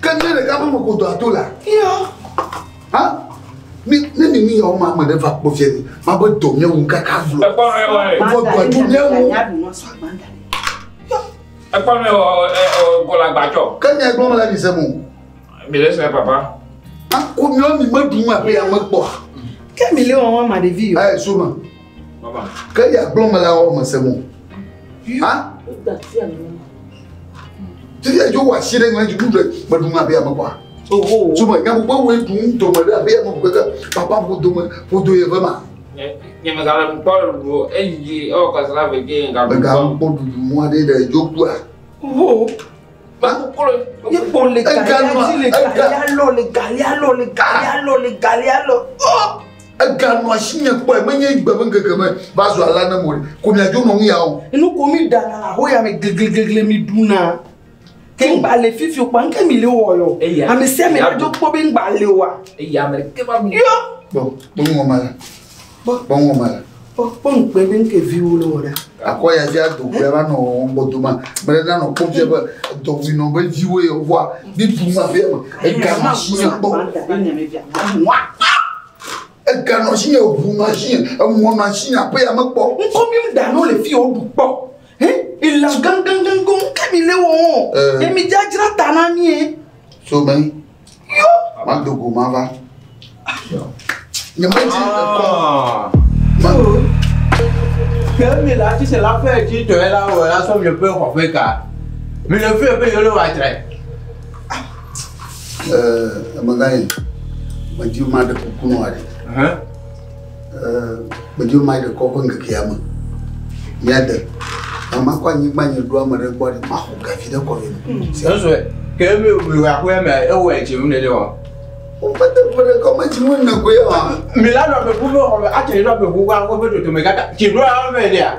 Ke ne ɖeka ƒe meƒodoa to la. Yɔ. Ha? Ne ne mi ni yawo ma ame ɖe va kpɔ fia ni, ma be dɔ mía ŋu kaka vlo. Ekpɔ mɛ wɔ ye. Vɔ dɔ tu mía ŋu. Ekpɔ mɛ wɔ ɛ ɔ kɔla gbadzɔ. Ke nya ekpɔ mɛ la mi se mo. Mi le sɛ papa. Akɔ mía mi me ɖu ma ƒe ya me kpɔ. Ke mi le wɔn wɔn ma ɖevi yɔ. Ɛ soma. Ke ya gblɔ me la wɔ me se mo. Ha? Ti ya jo wa si ɖe ŋlɛ dzi ɖe me ɖu ŋa be ame kwa. Tu me nya gbogbo wo ɖu do me ɖe abe ame gbogbo ke papa bo do me bo do ye ve ma. Nye me gale ŋkpɔ ɖu eyi ɔ kasra ve ke ŋga ɖu. Ŋga ŋkpɔ ɖu mɔ ɖe ɖe jo kua. Ho. Ye kpɔ le galia dzi le galia lɔ le galia lɔ le galia lɔ le galia lɔ. Eganɔ asi nye kpɔe menye gbe be ŋkeke me va zu alea ne mo ko miadzo nɔ nu ya o. Nu ko mi ɖana le ahoya me glegleglegle mi ɖuna. Ke ŋgba le fifi o kpɔ ŋke mi le wɔ yɔ. Ame sia ame nadzo kpɔ be ŋgba le oa. Eya me ɖeke va mi. Yɔ. Kpɔ kpɔ nuwɔma ya. Kpɔkpɔ ŋɔ mele. Kpɔkpɔ ŋkpɛ ɖe ŋkɛ viwo le wɔ ɖa. Akɔ ya dzi ado gbɛ va nɔ wɔwɔ ŋgbɔ do ma. Mele na nɔ kpɔ fia be edɔ wi nɔ be viwo ye wova bi bu ma fia me. Ega nɔ shi nye gbɔ. Ega nɔ shi nye ŋu nɔ shi nye emɔ nɔ shi nye aƒe ya me kpɔ. Ŋkɔ mi da nɔ le fi wo ɖu kpɔ. He ila gangan gangan ke mi le wɔwɔ. Emi dzadzra ta na mi. So mɛ. Yo! Mado go mava. Nyemedi ekɔ. Ah. Mado. Ke mi la ti se la fɛ ti tɔ ye la wɔ la sɔ mi ƒe xɔƒe ka. Mi le fi ƒe yolo wa tra. Ɛɛ, ɛmɛ gã ye. Medi ma de kuku nɔ aɖe. Medzo ma ɖe kɔ ƒe ŋkekea me. Míade. Mama kɔ anyigba nye ɖo ame ɖe gbɔ ɖe maxɔ gavi ɖe kɔ vɛ. Sɛnsɔe. Ke mi mi wa ko me e wo e jinu ne de wa. O fa te pere ko ma jinu na ko ya. Mi la no be bu no ho a te no be bu wa ko be to to me ga ta. Ki do a me dia.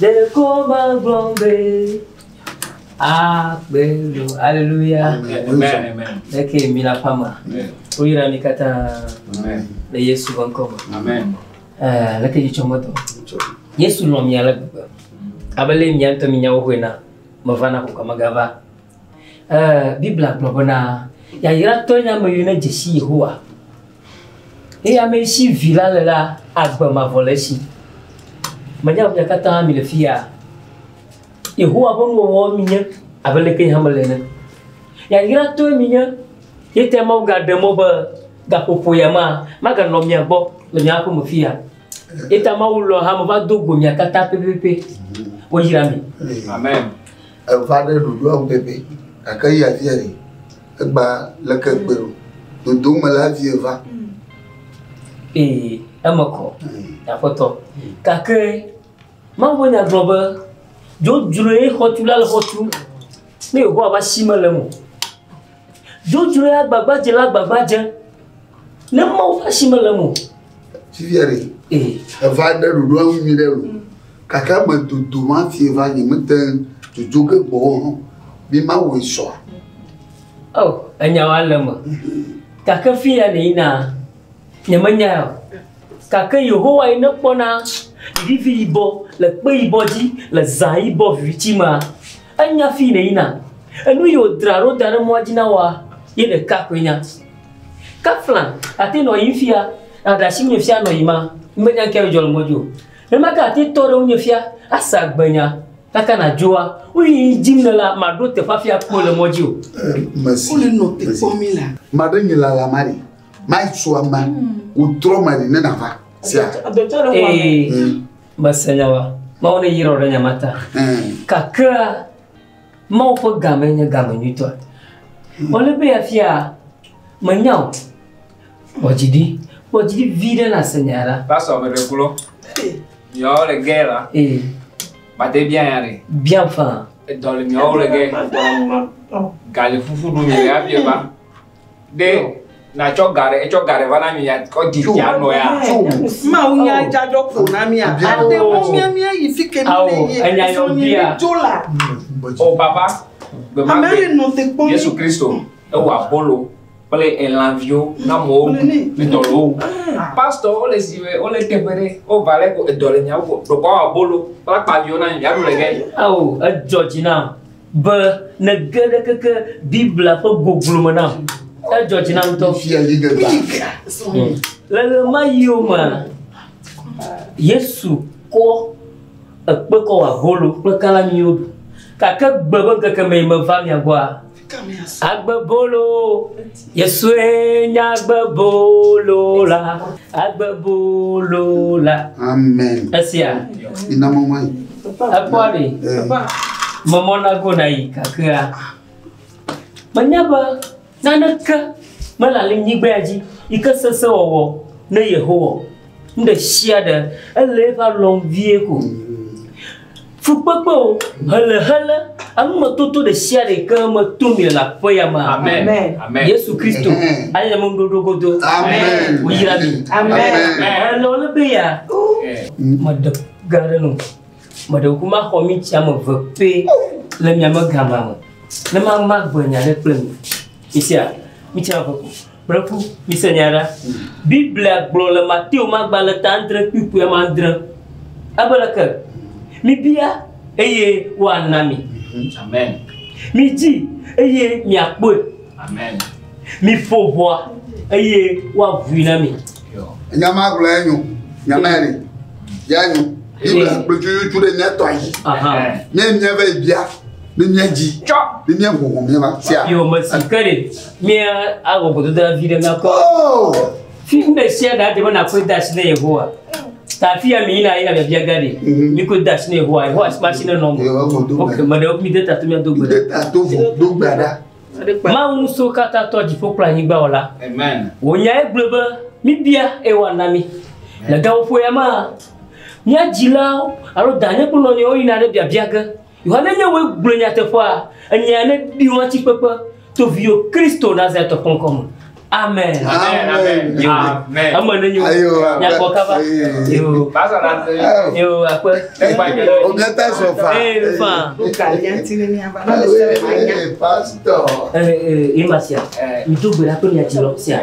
Ɖeko megblɔ be akpe nu. Aleluya. Eke mi le aƒea mea? Woyra mi katã le Yesu ƒe ŋkɔ me. Eh, leke dzi tsɔm etɔ. Yesu lɔ̃ mi ale gbegbe. Abe le mia ŋutɔ minya wo ƒe na. Meva na koko megava. Ɛɛ, Biblia gblɔ bena, Yayratɔe nye ame yi nedze si Yehowa, eye ame yi si Vi la le la agbe mavɔ le esi. Menye be mia katã mile fi ya Yehowa ƒe nuwɔwɔ minye abe leke yehã mele ene. Yayratɔe minye. Ye tae Mawu gaɖe mɔ be gaƒoƒo ya ma, maganɔ mia gbɔ le mia aƒe me fi ya. Ye ta Mawu lɔ̃ hame va do go mia katã pɛpɛpɛ. Woyra mi. Amen. Eva ɖe ɖoɖoa ŋu pɛpɛ, gake eya vie ɖe? Egba leke egbe ɖo? Dodom mele avie va. Ee, eme kɔ, Aƒetɔ. Gake Mawu ƒe Nya gblɔ be, Dzodzroe xɔtula le xɔ tum, ne Yehowa ƒe asi mele eme o. Dzodzroe agbagbadzela agbagbadze, ne Mawu ƒe asi mele eme o. Fifia ɖe, eva ɖe ɖoɖo eŋu nyui ɖe loo, gake eme dodom hafi va nye mete ŋu dzodzo ge gbɔ o hã. Mi mawɔe sɔa? O, enyawoa le eme. Gake fia ɖe yina. Nyemenyae o, gake Yehowae nekpɔna vivi yibɔ le kpe yibɔ dzi le zã yibɔ viviti mea. Enya fii nèyina, enu yi wòdra ɖo da ɖe mɔa dzi na wòa, ye ɖeka koe nya. Kafla, àte nɔ yiyim fia, nàɖe asi ŋunye fia nɔ yiyima, menya ŋkee adzɔ le mɔ dzi o. Nenema ke àte tɔ ɖe ŋunye fia ase agbenya, gake nàdzoa, nu yi dim nèlea, màɖo teƒe hafi akpɔe le mɔ dzi o. Maɖe nye lalamari. maitsɔ ame wòtrɔ me li ne nava sia ee hmm. mese nya wa mawo ne yirɔ ɖe nya ma ta hmm. kakra mawo ƒe game nye game nyuitɔ hmm. wòle be afia menya o kpɔdzidi kpɔdzidi vi ɖe na se nya ɖa pasɔ ame ɖe kplɔ yɔ le gɛ la ee bate bia ya ɖe bia fa edɔ le miawo le gɛ galifufu ɖu mi le abia ba ɖe nàtsɔ ga ɖe etsɔ ga ɖe va na mi ya kɔ di ya nɔ ya. Mawu nya dzadzɔ ko na mi a. Ate ŋu mia mia yi fi ke mi le yi sɔ nyi mi dzo la. O papa, gbe ma gbe. Ame nɔ te kpɔ mi. Yesu Kristo ewa bolo kple elanviwo na mɔwo edɔ le wo. Pastor wo le si me wo le teƒe ɖe wo va le ko edɔ le nyawo ko. Ɖokɔ wa bolo kple akpaviwo na mi ya ɖu le gɛ. Ao edzɔ dzi na. Be nège ɖe keke Biblia ƒe goglo me nam. Edzɔ dzi nam ŋutɔ. Le ɣemaɣiwo mea, Yesu kɔ ekpe kɔ wɔ abolo kple kalamiwo ɖu. Gake gbe be ŋkeke mee meva mia gbɔa, agbe bolo. Yesue nye agbebolo la, agbebolo la. Amen. Esia. Ina mɔmɔ yi. Ekpɔa ɖe. Mɔmɔ na go na yi kakea. Menya be naneke mele le nyigbea dzi yi ke sese wɔwɔ ne Yehowa. Nu ɖe sia ɖe, ele eƒe alɔ ŋu vie ko. Fukpekpe o, hele hele, anumedodo ɖe sia ɖe ke me to mi le aƒe ya me. Amen. Amen. Yesu Kristo, anya me nuɖoɖo godo. Amen. Woyra mi. Amen. Ele wo le be ya. Meɖe ga ɖe no. Meɖe ku ma xɔ mi tia me ve pe le mia me gama me. Ne ma ma gbe nya ɖe kple mi. Isia, mi tia ve ku. Kple ku, mise nya ɖa. Biblia gblɔ le Mateo magbalẽ ta andre kpukpui ame andre. Ebe leke? Mibia, eye woana mi. Amen. Midzi, eye miakpɔe. Amen. Miƒo ʋɔa, eye woavui na mi. Nya ma gblɔ ya nyo. Nya ma yɛ ya nyo. Biblia gblɔ tso yotso ɖe mía tɔ yi. Mía mía va yi bia. Ni mía dzi. Tsɔ. Ni mía ʋɔʋɔ mía ma. Sia. Yɔ mesi ke ɖe. Míawɔ gbedodoɖa vi ɖe míakpɔ oh! fi ɖe sia ɖe adze be nakɔe de asi na Yehowa. Ta afi ya mi yina yina biabia ga ɖi. Mhm. Mi ko de asi na Yehowa. Yehowa si ma si ne nɔ me. Ok, me ɖe mi de tato míado gbe. De tato vɔ do gbe ɖa. Mawu ŋusɔ katã tɔ dziƒo kple anyigba wɔ la. Wò nya egblɔ be mi bia eye wòana mi. Le gaƒoƒo ya ma, mía dzilawo alo danye kple nɔnɔewo yina ɖe biabia ge. Yohane nye woe gblɔe nyateƒea, enyea ne ɖi wɔtsi kpekpe to viyo Kristo nazɛ tɔ kɔnkɔ me. Amen. Amen. Amen. Yo. Amen. Ame ne nyo. Ayo. Nyakɔ kaba. Yo. Basa la te. Yo akpe. Ekpa ke. Ogeta sofa. Eh fa. Kalianti ne nya ba. Pastor. Eh eh imasia. Mtu bela to nya tilo sia.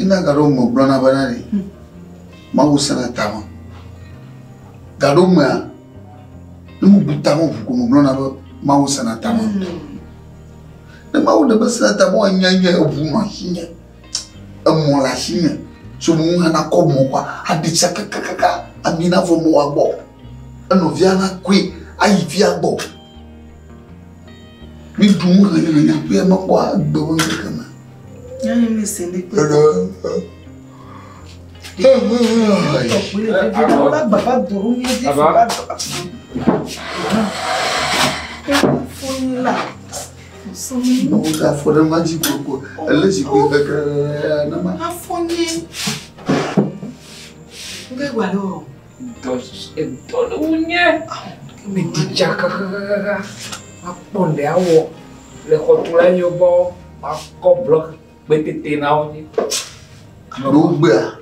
Ina gaɖo me gblɔna bena ɖi Mawu sena tame. Gaɖo mea, ne mebu tame ŋu ko megblɔna be Mawu sena tame ŋutɔ. Ne Mawu ɖe be sena tame wa nya nye eŋu nɔ asinye, emɔ le asinye, so me ŋu hana kɔ mɔ kɔ aɖi tsa kakakaka ami na vɔ mɔ wa gbɔ. Enɔvia na koe ayi via gbɔ. Míɖu nu hanyahanya ƒea mekpɔ agbe ƒe ŋkeke me. Afɔ ɖe ma dzi gbogbo, ele zikpui keke ɖe ma. Afɔ nye. Ŋgegbe alo. Dɔ susu dɔ le wu nye. Me di dza kakakaka. Ma kpɔ nde awɔ le xɔtu la nyo gbɔ. Ma kɔ blɔk gbe tete na wo nye. Alo wo gbe a?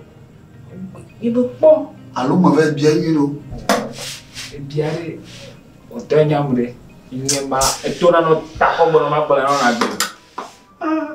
Ye be kpɔ. Alo me ve bia yi lo. E bia re. O te nyam re. Nye ma eto na no ta kɔ gbe no ma kpɔ na no na gbe. Ah.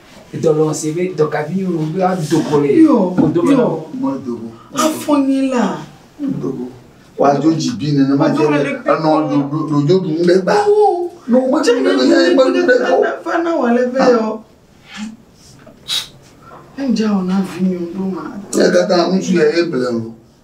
Dɔlɔ̃ se be dɔkavi nyɔnuvi la do go le wo dome na wo. Medo go. Afɔ nyi la. Medo go. Woadzo dzi bi nenema dze be enɔ ɖoɖo ɖoɖo ɖu ŋɖe gba. Ne womedo ŋɖe be ya ye medo ŋɖe gba o. Fa na wale ve yɔ. Enja wɔ na vi nyɔnu ɖo ma. Ekata ŋutsu ya ye ble o.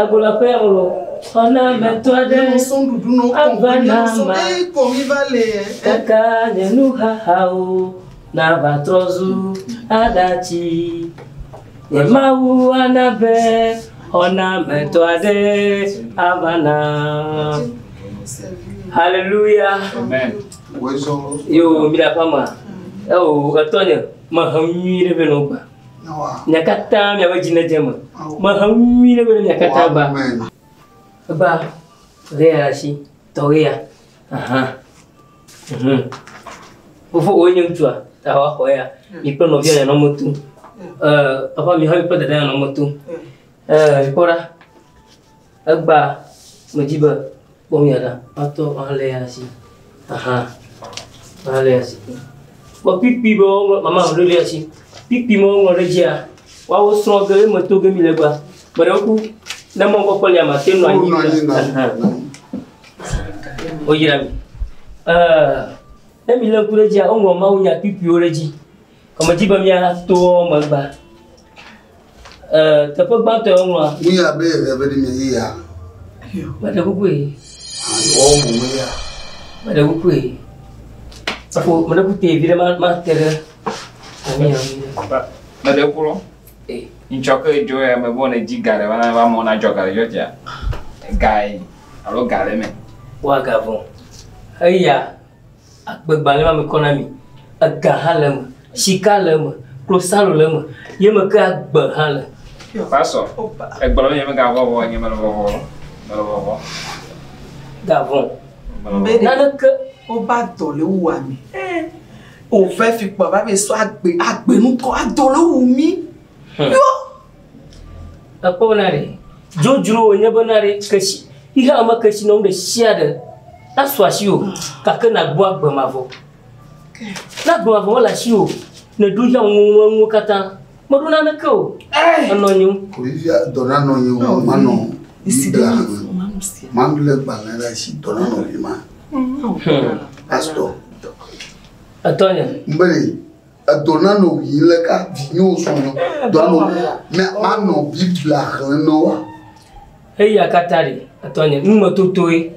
Agblɔƒe o, xɔ na ameto aɖe ava na ma kaka nye nuxaxawo nava trɔ zu aɖatsi. Nye Mawu ana be xɔ na ameto aɖe ava nam. Haleluya! Yoo, mi ɖe aƒea mea? Eo, etɔnye, mehe nu nyui ɖe vɛ nɔ wò kpɔa? Mia katã miaƒe dzi nedze eme. Mehe nyui ɖe be mia katã ba. Eba ʋe ya asi tɔwé ya. Aha. Mhm. Fofo wòe nye ŋutsua, ta wɔ xɔ ya. Mi kple nɔvia ya nɔ me tum. Ɛ, papa mi hã mi kple dada ya nɔ me tum. Ɛ, kpɔ ɖa. Egbea medzi be, Kpɔ mía ɖa. Matɔ maléa asi. Aha, maléa asi. Kpɔ kpikpi be woŋlɔ, mama ŋlɔ ɖe asi. Kpikpi me woŋlɔ ɖe dzia, woawo srɔ̃ ge, eme to ge mi le gba. Ame ɖewo ku, ne mɔ kɔkɔ lia, mate nɔ anyi. Woyra mi. Ne mi le ŋku ɖe dzia, woŋlɔ Mawu nya kpikpiwo ɖe dzi. Kɔmedzi be mía toa megba. E, teƒe gbãtɔ ya woŋlɔa. Nu ya be eve be ɖi me yi ya. Meɖe kukue. Ɔ bu me ya. Meɖe kukue. Sako meɖe kute vi ɖe ma ma te ɖe. Ami ya mi. Meɖe kulɔ. E. Ŋtsɔ ke dzo ya me bɔ ne dzi ga ɖe wana va mɔ na dzɔ ga ɖe dzɔ tia. Gai alo ga ɖe me. Wa ga vɔ. Eya. Akpegbalẽma mekɔ na mi, ega hã le eme, sika le eme, klosalo le eme, ye me ke agbe hã le. Pastor, egblɔ be yemega vɔ̃ vɔ, nye mele vɔvɔ, mele vɔvɔ. Gavɔ. Mbe naneke oba dɔ le wu ame. Ove fi kpɔ va be so agbe, agbe nutɔ adɔ le wu mi. Yo. Ekpɔ na ɖe, dzodzro wònye be na ɖe keshi, xexea me keshinɔnu ɖe sia ɖe nasu asiwò gake nàgbu agbe mavɔ. Ne agbe mavɔ mele asiwò, nèɖo xexea me nuwo katã, mèɖo naneke o, ènɔ anyi o. Olivia, dɔ na nɔnye wò manɔ Biblia xlẽ. Maɖu lé gbalẽ ɖe asi dɔ na nɔvi ma. Pastor. Etɔnye. Ŋbeli. Edɔ na nɔ wi le ka vi nyo so nɔ dɔ nɔ mɛ ma nɔ biblia xlẽ nɔ wa. Eya kata ɖi etɔnye nume totoe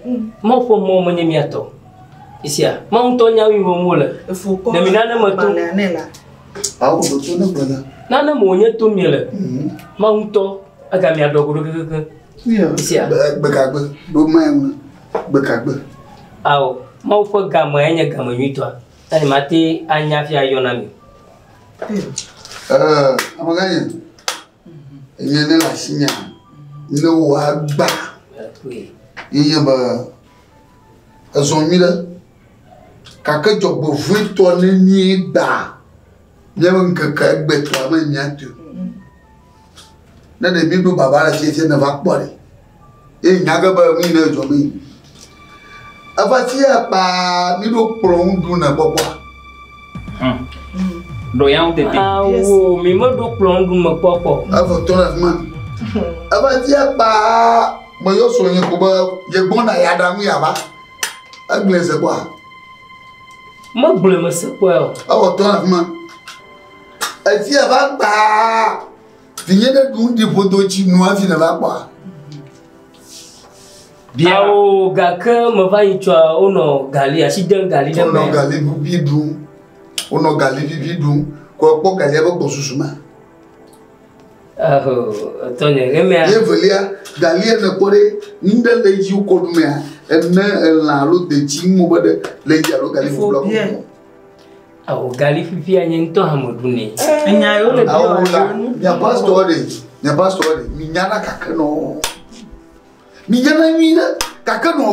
mɔ ƒe mɔ menye mia tɔ. Isia ma ŋutɔ nya wi wɔm wole. Ne mi nane me to. Awo do to ne gbena. Nane me wonye to mi le. Mhm. Ma ŋutɔ ega mia dɔ godo kekeke. Isia. Gbekagbe do mɛ ŋu. Gbekagbe. Awo ma ƒe game enye game nyuitɔa. Eye mate anya fia yɔ na mi. Amegãnye, enye ne le asinye ne wòagba yeye be ezɔ nyui ɖe gake dzɔgbevɔ̃etɔ ne míegba míaƒe ŋkeke egbetɔa me míatɔe ne ɖe míɖo baba le fiafiame va kpɔ ɖe Ye nya ge be nu yi ne dzɔ mee. Eva fia kpaa mi ɖo kplɔ ŋu ɖu ne kpɔkpɔa. Ɖo ya ŋu tete. Awo mi me ɖo kplɔ ŋu ɖu me kpɔkpɔ. Evo tɔ ɖe fima. Eva fia kpaa me yɔ so nye ko be ye gbɔna ya ɖa nu ya va. Egblẽ se kpɔa. Me gblẽ me se kpɔa. Evo tɔ ɖe fima. Efia va kpaa. Vinye ɖe ɖu ŋdi ƒodo tsi nu hafi nèva kpɔa? Bia. Ao, gake meva yi tsɔa, wonɔ gali, asi dem gali ɖe me. Wonɔ gali vivi ɖum. Wonɔ gali vivi ɖum. Kɔ ekpɔ galia be gbɔsusu ma. Etɔnye, ɣemea. Ye velia, galia nèkpɔ ɖe, nu ɖe le edzi wokɔ ɖu mea, ene, elã alo detsi, ŋmɔ be ɖe le edzi alo gali ƒuƒlua kɔ ɖu. Awo gali fifi anye ŋutɔ hame ɖu nɛ. Enya yewo le bi wa ɖe nu. Nya pastor ɖe, nya pastor ɖe, mi nya na kake nɔ. Mi nya na nyui ɖe kake nɔ.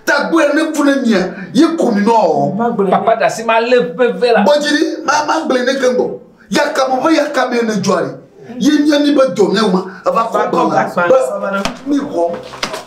Ta gbɔ ya ne ku ne mia, ye ku mi nɔ. Papa da si ma le veve la. Bɔ jiri, ma ma gble ne ke gbɔ. Ya ka mo be ya ka mi ne jɔ ale. Ye nya ni be dɔ ne ma, eva kɔ ba. Mi kɔ.